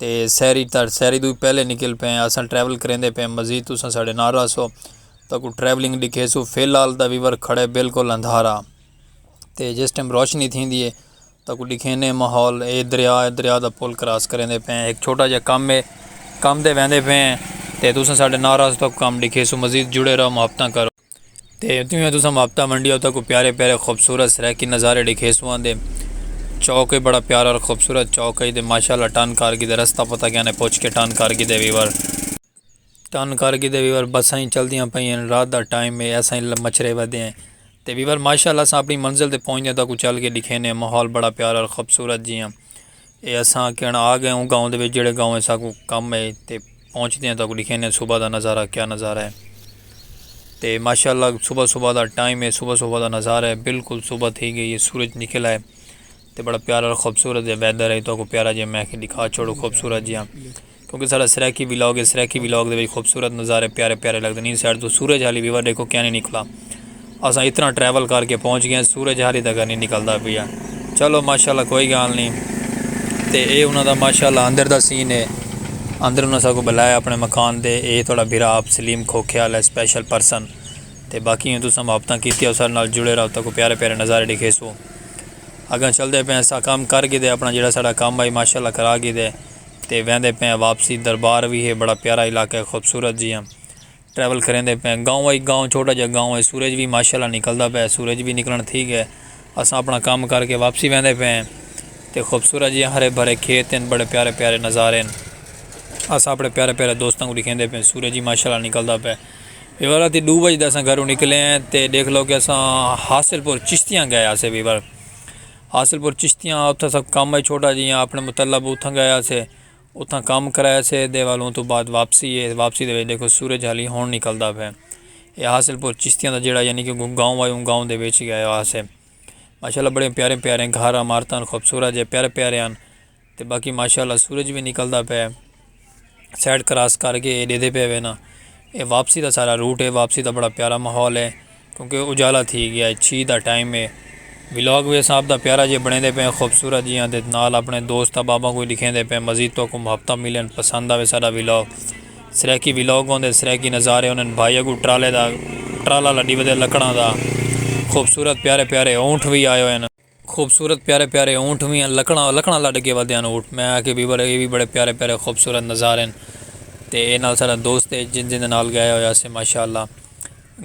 تے سحری تا سحری توں پہلے نکل پئے ہیں اساں ٹریول کریندے پئے ہیں مزید تساں ساڈے نال رہسو تاکو ٹریولنگ ڈکھیسو فی الحال دا ویور کھڑے بالکل اندھارا تے جس ٹائم روشنی تھیندی ہے تاکو ڈکھینے ماحول اے دریا اے دریا دا پل کراس کریندے پئے ہیں ایک چھوٹا جا کم ہے کم دے ویندے پئے ہیں تے تساں ساڈے نال رہسو تاکو کم ڈکھیسو مزید جڑے رہو محبتاں کرو۔ تے اتیوں ہی تساں مابتا منڈی اتھاں کو پیارے پیارے خوبصورت سرائیکی نظارے ڈیکھیسوں آن دے چوک ہی بڑا پیارا اور خوبصورت چوک ہئی تے ماشاءاللہ ٹن کر گی تے رستہ پتہ کیا نے پچھ کے ٹن کر گی تے ویور ٹن کر گی تے ویور بساں ہی چل دیاں پئیں ہیں رات دا ٹائم ہے ایساں ہی مچھرے ودے ہیں تے ویور ماشاءاللہ اساں اپنی منزل تے پہنچ دے تاں کو چل کے ڈیکھینے ہیں ماحول بڑا پیارا اور خوبصورت جی ہیں اے اساں آکھے ہن آ گئے اوں گاؤں دے وچ جیڑھے گاؤں اساکوں کم ہے تے پہنچدے ہیں تاکوں ڈکھینے ہیں صبح دا نظارہ کیا نظارہ ہے تے ماشاءاللہ صبح صبح دا ٹائم ہے صبح صبح دا نظارہ ہے بالکل صبح تھی گئی ہے سورج نکل آئے تے بڑا پیارا خوبصورت جا ویدر ہے تاکوں پیارا جا میں کہ دکھا چھوڑو خوبصورت جا کیونکہ ساڈا سرائیکی ولاگ ہے سرائیکی ولاگ دے وچ خوبصورت نظارے پیارے پیارے لگدے نیں سائیڈ توں سورج حالی ویور ڈیکھو کیا نہیں نکلا اساں اتنا ٹریول کر کے پہنچ گئے ہیں سورج حالی تک نہیں نکلدا پیا چلو ماشاءاللہ کوئی گال نہیں تے اے انہاں دا ماشاءاللہ اندر دا سین ہے اندر انہاں ساکو بلایا اپنے مکان دے اے تھوڑا بھرا آپ سلیم کھوکھے والا اسپیشل پرسن تے باقی ہوں تساں محبتاں کیتی او سارے نال جڑے رہو تاکو پیارے پیارے نظارے ڈکھے سو اگاں چلدے پے اساں کام کر گئے دے اپنا جڑا ساڈا کام آئی ماشاءاللہ کرا گئے دے تے ویندے پئے آں واپسی دربار وی ہے بڑا پیارا علاقہ ہے خوبصورت جیہاں ٹریول کریندے پئے آں گاؤں ائی گاؤں چھوٹا جیہاں گاؤں ہے سورج وی ماشاءاللہ نکلدا پئے سورج وی نکلن تھی گئے اساں اپنا کم کر کے واپسی ویندے پئے آں تے خوبصورت جیہاں ہرے بھرے کھیت ہن بڑے پیارے پیارے نظارے ہن اساں اپنے پیارے پیارے دوستاں کوں ڈکھیندے پئے آں سورج وی ماشاءاللہ نکلدا پئے ویور راتی ڈو بجے دے اساں گھروں نکلے ہیں تے ڈیکھ لو کہ اساں حاصل پور چشتیاں گئے ہاسے ویور حاصل پور چشتیاں اتھاں ساکوں کم اے چھوٹا جیہاں اپنے مطلب اتھاں گئے ہاسے اتھاں کم کرئے ہاسے دے ول اوں توں بعد واپسی اے واپسی دے وچ ڈیکھو سورج ہالی ہن نکلدا پئے اے حاصل پور چشتیاں دا جیہڑا یعنی کہ گوں گاؤں اے اوں گاؤں دے وچ گئے ہاسے ماشاءاللہ بڑے پیارے پیارے گھر عمارتاں خوبصورت جے پیارے پیارے ہن۔ تے باقی ماشاءاللہ سورج وی نکلدا پئے سائیڈ کراس کر کے اے ݙیہدے پئے وے نا اے واپسی دا سارا روٹ اے واپسی دا بڑا پیارا ماحول اے کیونکہ اجالا تھی ڳیا اے چھیہہ دا ٹائم اے ولاگ وی اساں آپ دا پیارا جیہا بݨیندے پئے خوبصورت جیہاں تے نال اپݨے دوست احباباں کوں وی ݙکھیندے پئے مزید تہاکوں محبتاں ملن پسند آوے ساݙا ولاگ سرائیکی ولاگ ہوندے سرائیکی نظارے ہوندن بھائی اڳوں ٹرالے دا ٹرالا لݙی ودے لکڑاں دا خوبصورت پیارے پیارے اونٹ وی آئے ہوئے نا۔ خوبصورت پیارے پیارے اونٹ وی ہن لکڑاں لکڑاں لڈ کے ودے ہن اونٹ میں آکھیا بیبر اے وی بڑے پیارے پیارے خوبصورت نظارے ہن تے اے نال ساڈا دوست اے جن جن دے نال گئے ہوئے اسے ماشاءاللہ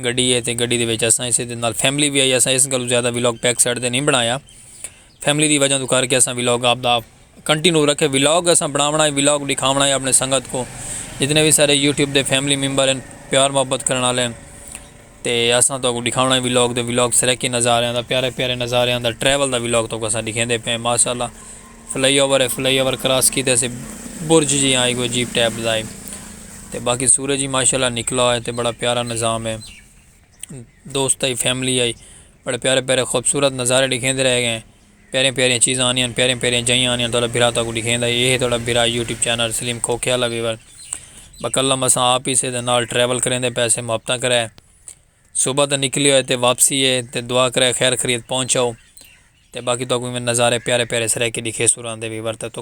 گڈی اے تے گڈی دے وچ اساں اسے دے نال فیملی وی آئی اساں اس گلوں زیادہ ولاگ بیک سائیڈ تے نی بنایا فیملی دی وجہ توں کر کے اساں ولاگ آپدا۔ کنٹینو رکھے ولاگ اساں بناونا ہے ولاگ ڈکھاونا ہے اپنے سنگت کو جتنے وی سارے یوٹیوب دے فیملی ممبر ہیں پیار محبت کرن والے ہیں تے اساں تو کو ڈکھاونا ہے ولاگ دے ولاگ سرکی نظاریاں دا پیارے پیارے نظاریاں دا ٹریول دا ولاگ تو کو اساں ڈکھیں دے پئے ماشاءاللہ فلائی اوور ہے فلائی اوور کراس کیتے سے برج جی آئی گو جیپ ٹیپ دائی تے باقی سورج ہی ماشاءاللہ نکلا ہے تے بڑا پیارا نظام ہے دوست آئی فیملی آئی بڑے پیارے پیارے خوبصورت نظارے ڈکھیں دے رہ گئے ہیں پیاریاں پیاریاں چیزاں آندیاں ہن پیاریاں پیاریاں جئیاں آندیاں ہن تہاڈا بھرا تہاکوں ڈکھیندا ہے اے ہے تہاڈا بھرا یوٹیوب چینل سلیم کھوکھیا لگے ول بقلم اساں آپ ہی سے تے نال ٹریول کریندے پئے سے محبتاں کرے صبح دا نکلے ہوئے تے واپسی ہے تے دعا کرے خیر خیریت پہنچ آؤ تے باقی تہاکوں ایویں نظارے پیارے پیارے سرائیکی ڈکھیسوں راندے وی ورتے تو۔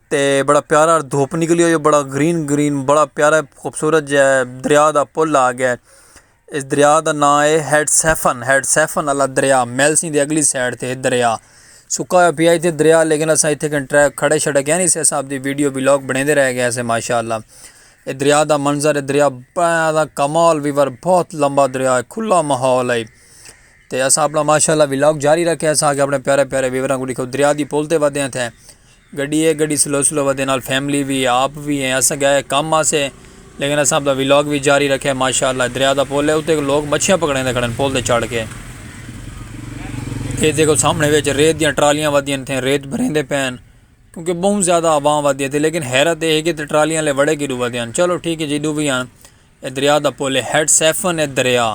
تے بڑا پیارا دھوپ نکلی ہوئی ہے بڑا گرین گرین بڑا پیارا خوبصورت جا دریا دا پل آ گیا ہے اس دریا دا ناں ہے ہیڈ سیفن ہیڈ سیفن والا دریا میل سنگھ دے اگلی سائڈ تے ہے دریا سکا ہوا پیا اتنے دریا لیکن اساں اتنے کن ٹریک کھڑے چھڑے گئے نہیں سے اساں آپ دی ویڈیو بلاگ بنے دے رہ گئے سے ماشاء اللہ اے دریا دا منظر ہے دریا بڑا کمال ویور بہت لمبا دریا ہے کھلا ماحول ہے تے اساں اپنا ماشاء اللہ بلاگ جاری رکھے اساں آگے اپنے پیارے پیارے ویوراں کو دکھو دریا دی پول تے ودے ہیں تھے گڈی ہے گڈی سلو سلو ودے نال فیملی وی ہے آپ وی ہیں اساں گئے کم واسے لیکن اساں اپنا ولاگ وی جاری رکھیا ماشاءاللہ اے دریا دا پل ہے اتے لوگ مچھیاں پکڑیندے کھڑن پل تے چڑھ کے اے دیکھو سامنے وچ ریت دیاں ٹرالیاں ودیاں نے تھے ریت بھریندے پین کیونکہ بہت زیادہ عوام ودی ہے لیکن حیرت اے ہے کہ ٹرالیاں لے وڑے کی ڈو ودیاں چلو ٹھیک ہے جی ڈو وی آن اے دریا دا پل اے ہیڈ سیفن اے دریا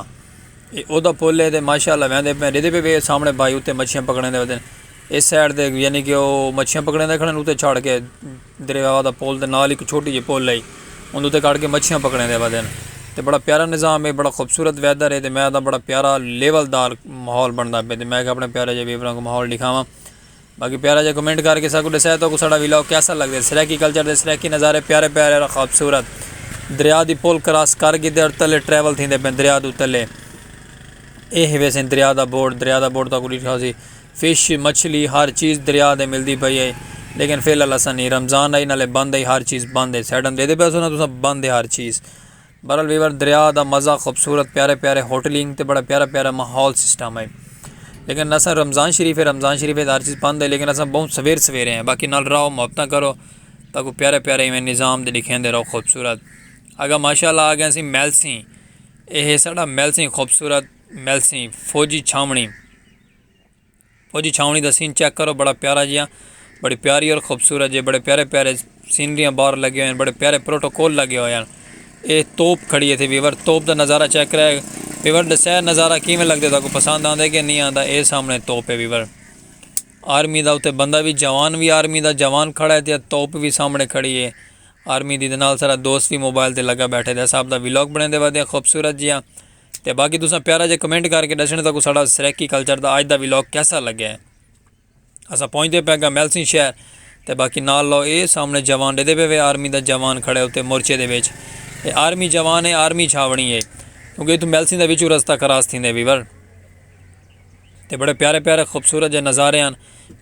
اے او دا پل اے تے ماشاءاللہ ویندے پئے ڈیدے پئے وے سامنے بھائی اتے مچھیاں پکڑیندے ودن اس سائیڈ تے یعنی کہ او مچھیاں پکڑیندے کھڑن اتے چھڑ کے دریا دا پل تے نال ہک چھوٹی جے پل ائی اندے تے کھڑ کے مچھیاں پکڑیندے ودن تے بڑا پیارا نظام اے بڑا خوبصورت ویدر اے تے میں آکھدا بڑا پیارا لیول دار ماحول بندا پئے تے میں کہ اپنے پیارے جے ویوراں کو ماحول ڈکھاواں۔ باقی پیارا جا کمنٹ کر کے ساکوں ڈسایا توکوں ساڈا ویلاگ کیسا لگدے سرائیکی کلچر دے سرائیکی نظارے پیارے پیارے اور خوبصورت دریا دی پل کراس کر کیتے اور تلے ٹریول تھیندے پئن دریا دو تلے اے ہے ویسے دریا دا بورڈ دریا دا بورڈ تاکوں ڈیٹھا ہوسی فش مچھلی ہر چیز دریا دے ملدی پئی ہے لیکن فی الحال اساں نہیں رمضان آئی نالے بند ہے ہر چیز بند ہے سیڈن دیدے پئے سو نا تساں بند ہے ہر چیز بہرحال ویور دریا دا مزہ خوبصورت پیارے پیارے ہوٹلنگ تے بڑا پیارا پیارا ماحول سسٹم ہے لیکن اساں رمضان شریف ہے رمضان شریف ہے ہر چیز بند ہے لیکن اساں بہت سویر سویرے ہیں باقی نال رہو محبتاں کرو تاکہ پیارے پیارے ایویں نظام دے لکھیں دے رہو خوبصورت اگا ماشاء اللہ آ گئے سی میل سی اے ہے ساڑا میل سی خوبصورت میل سی فوجی چھاونڑی اوجی چھاونڑی دا سین چیک کرو بڑا پیارا جیہاں بڑی پیاری اور خوبصورت جے بڑے پیارے پیارے سینریاں باہر لگے ہوئے ہیں بڑے پیارے پروٹوکول لگے ہوئے ہیں اے توپ کھڑی ہے تھے ویور توپ دا نظارہ چیک کرے ویور ڈسے نظارہ کیویں لگدے تاکو پسند آندے کہ نہیں آندا اے سامنے توپ ہے ویور آرمی دا اتے بندہ بھی جوان بھی آرمی دا جوان کھڑا ہے تے توپ بھی سامنے کھڑی ہے آرمی دی دے نال سارا دوست بھی موبائل تے لگا بیٹھے دے صاحب دا ویلوک بنے دے ودے خوبصورت جیہاں تے باقی تساں پیارا جے کمنٹ کر کے ڈسنڑ تاکوں ساڈا سرائیکی کلچر دا آج دا ویلاگ کیسا لگے ہیں اساں پہنچ دے پے گا میلسن شہر تے باقی نال لو اے سامنے جوان دے دے پے وے آرمی دا جوان کھڑے ہوتے مورچے دے وچ اے آرمی جوان ہے آرمی چھاونی ہے کیونکہ اتھوں میلسن دا وچوں رستہ کراس تھیندے ویور تے بڑے پیارے پیارے خوبصورت جے نظارے ہن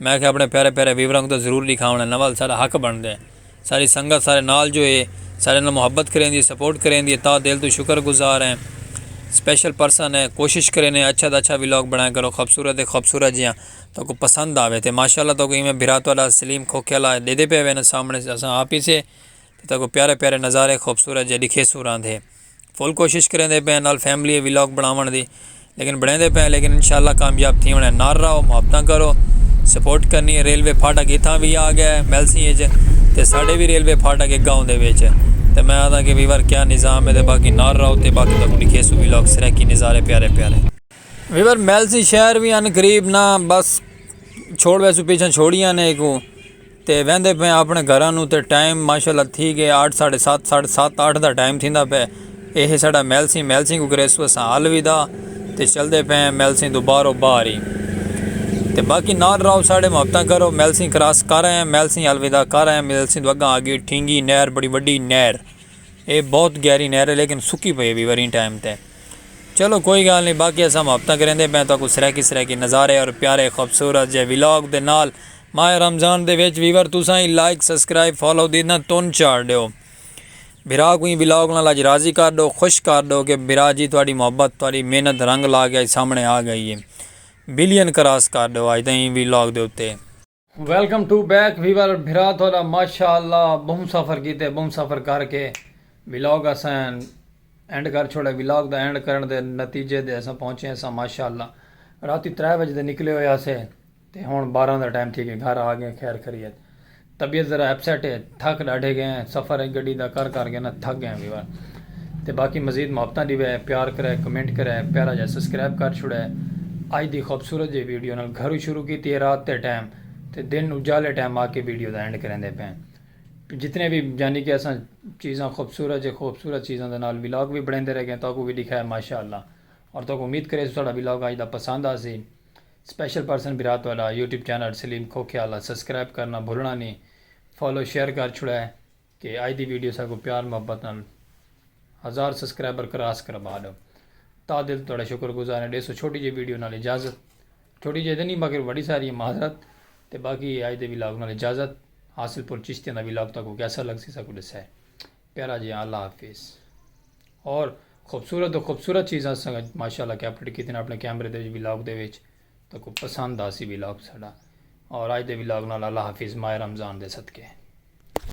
میں آکھیا اپنے پیارے پیارے ویوراں کوں تاں ضرور ڈکھاونڑاں نال ساڈا حق بنڑدا ہے ساری سنگت سارے نال جو ہے ساڈے نال محبت کریندی ہے سپورٹ کریندی ہے تہہ دل توں شکر گزار ہیں سپیشل پرسن ہیں کوشش کرینے اچھا توں اچھا ولاگ بنڑایا کرو خوبصورت تے خوبصورت جیہاں تہاکوں پسند آوے تے ماشاءاللہ تہاکوں ایویں بھرا تہاڈا سلیم کھوکھے آلا ڈیدے پئے ہوئے ناں سامنڑے اساں آپ ہی سے تہاکوں پیارے پیارے نظارے خوبصورت جے ڈکھیسوں راندھے۔ فل کوشش کریندے پئے نال فیملی اے ولاگ بناون دی لیکن بنیندے پئے لیکن انشاءاللہ کامیاب تھی ونے نار راو محبتاں کرو سپورٹ کرنی ہے ریلوے پھاٹک اتھاں بھی آ گیا ہے میلسی اچ تے ساڈے بھی ریلوے پھاٹک کے گاؤں دے وچ تے میں آدھا کہ ویور کیا نظام ہے تے باقی نار راو تے باقی تکوں لکھے سو ولاگ سریکی نظارے پیارے پیارے ویور میلسی شہر بھی ان قریب نہ بس چھوڑ ویسو پیچھاں چھوڑیاں نے ایکوں تے ویندے پئے آپݨے گھراں نوں تے ٹائم ماشاء اللہ تھی ڳئے آٹھ ساڑھے ست ساڑھے ست آٹھ دا ٹائم تھیندا پئے ایہے ساڈا میلسیں میلسیں کوں کریسوں اساں الوداع تے چلدے پئے ہیں میلسیں توں باہرو باہر ہی تے باقی نال راہو ساڈے محبتاں کرو میلسیں کراس کر آئے ہیں میلسیں الوداع کر آئے ہیں میلسیں توں اگاں آگی ٹھینگی نہر بڑی وڈی نہر اے بہت گہری نہر ہے لیکن سکی پئی ہے بھی وریں ٹائم تے چلو کوئی گال نہیں باقی اساں محبتاں کریندے پئے ہیں تو کو سرائیکی سرائیکی نظارے اور پیارے خوبصورت جے ولاگ دے نال ماہ رمضان دے وچ ویور تساں ای لائک سسکرائب فالو دی نہ تون چاڑ ڈیو بھرا کو ایں ولاگ نال اج راضی کر ڈو خوش کر ڈو کہ بھرا جی تہاڈی محبت تہاڈی محنت رنگ لا کے اج سامنے آ گئی ہے بلین کراس کر ڈیو اج دے ایں ولاگ دے اتے۔ ویلکم ٹو بیک ویور بھرا تہاڈا ماشاء اللہ بہوں سفر کیتے بہوں سفر کر کے ولاگ اساں اینڈ کر چھوڑے ولاگ دا اینڈ کرن دے نتیجے دے اساں پہنچے اساں ماشاء اللہ راتی ترے وجے دے نکلے ہوئے اسے تے ہنڑ بارہاں دا ٹائم تھی ڳئے گھر آ ڳئے خیر خریت طبیعت ذرا اپسیٹ ہے تھک ݙاڈھے ڳئے ہیں سفر ہے گڈی دا کر کر ڳئے ناں تھک ڳئے ہیں ویور تے باقی مزید محبتاں ݙیوے پیار کرے کمنٹ کرے پیارا جا سسکرائب کر چھوڑے اج دی خوبصورت جی ویڈیو نال گھروں شروع کیتی ہے رات دے ٹائم تے دن اجالے ٹائم آ کے ویڈیو دا اینڈ کریندے پئے ہیں جتنے وی یعنی کہ اساں چیزاں خوبصورت جے خوبصورت چیزاں دے نال ولاگ وی بݨیندے رہ ڳئے تاکوں وی ݙکھائے ماشاءاللہ اور تاکوں امید کریسوں ساڈا ولاگ اج دا پسند آسی سپیشل پرسن برا تہاڈا یوٹیوب چینل سلیم کھوکھے آلا سبسکرائب کرنا بھلنا نی فالو شیئر کر چھوڑا ہے کہ اج دی ویڈیو ساکوں پیار محبت نال ہزار سبسکرائبر کراس کروا ڈو تہ دل توں تہاڈا شکر گزار ہیں ڈیسو چھوٹی جئی ویڈیو نال اجازت چھوٹی جئی تہ نی باقی وڈی ساری ہے معذرت تہ باقی اج دے ولاگ نال اجازت حاصل پور چشتیاں دا ولاگ تہاکوں کیسا لگسی ساکوں ڈسے پیارا جی اللہ حافظ اور خوبصورت تو خوبصورت چیزاں سنگ ماشاء اللہ کیپریٹ کی تین اپنے کیمرے دے بھی لاگ دے ویچ تو کو پسند آسی بھی لاگ ساڑا اور آج دے بھی لاگ نال اللہ حافظ ماہ رمضان دے صدقے